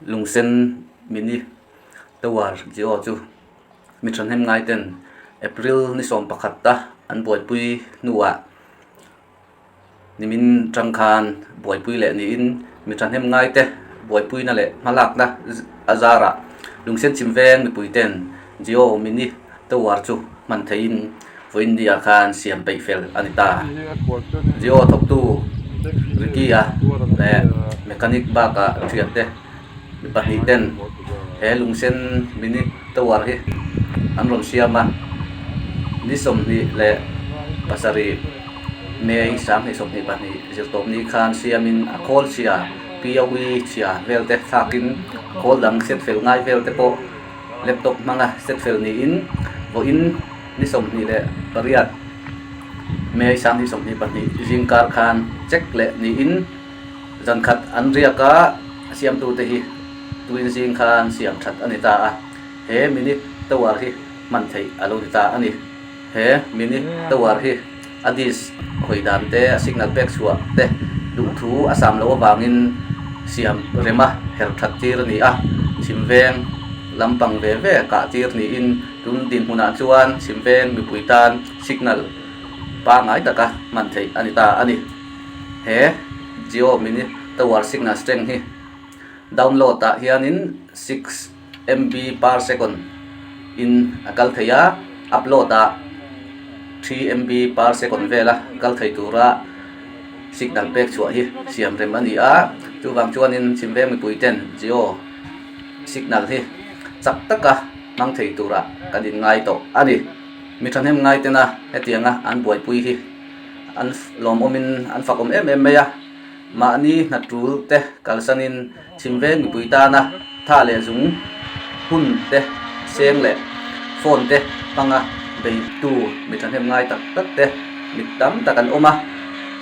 Lungsen mini tawar chi aw chu mi thahnem ngai ten April ni sawm pakhat a an buaipui hnuah-- Nimin tang khan buaipui leh niin mi thahnem ngaite buaipuina leh hmalakna a zarah lungsen chim veng mipui ten Jio mini tower chu hman theiin vawiindia khan siam peih fel a ni ta. Jio thawktu Ricky-a leh mechanic bak-a hriatte. mi pahnih ten he lungsen minute tovar hi an rawn siam a ni sawmhnih leh pasarih may sang hnih sawmhnih pahnih zirtawp ni kha an siam in a kawl chhia piaui chhia vel te thlak in kawl dang set fel ngai vel te pawh laptop hmanga set fel ni in vaw in ni sawmhnih leh pariat may sang hnih sawmhnih pahnih zingkar khan check leh ni in Zan khat an riak a, a siamtute hi tuin zing kha an siam that a ni ta a, he mini tovar hi hman theih a lo ni ta a ni. He mini tovar hi a disk hawi dan te, a signal pek chhuah te duh thu a sam lo avangin siam rema her that tir a ni a, chimveng lam pang ve ve kah tir niin tun dinhmunah chuan chimveng mipui tan signal pangngai taka hman theih a ni ta a ni. he jio mini tower signal strength hi download ah hianin six mb per second in a kal thei a upload ah three mb per second vela kal thei tura signal pek chhuah hi siam rem a ni a chuvang chuanin chhimveng mipui ten jio signal hi chak taka hmang thei turah kan inngai tawh a ni mi thahnem ngaitena hetianga an buaipui hi-- an lawm awmin an fak awm em em mai a, mahni hnatul te kalsanin chhimveng mipui tana tha leh zung hun te seng leh phone te hmanga beihtu mi thahnem ngai tak tak te mit tam tak an awm a,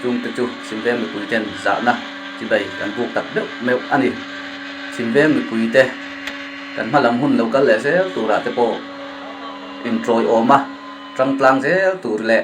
chungte chu chhimveng mipui ten zahna chi bai kan buk tak deuh meuh a ni. Chhimveng mipui te kan hma lam hun lo kal leh zel turah te pawh intlawihawma tangtlang zel tur leh,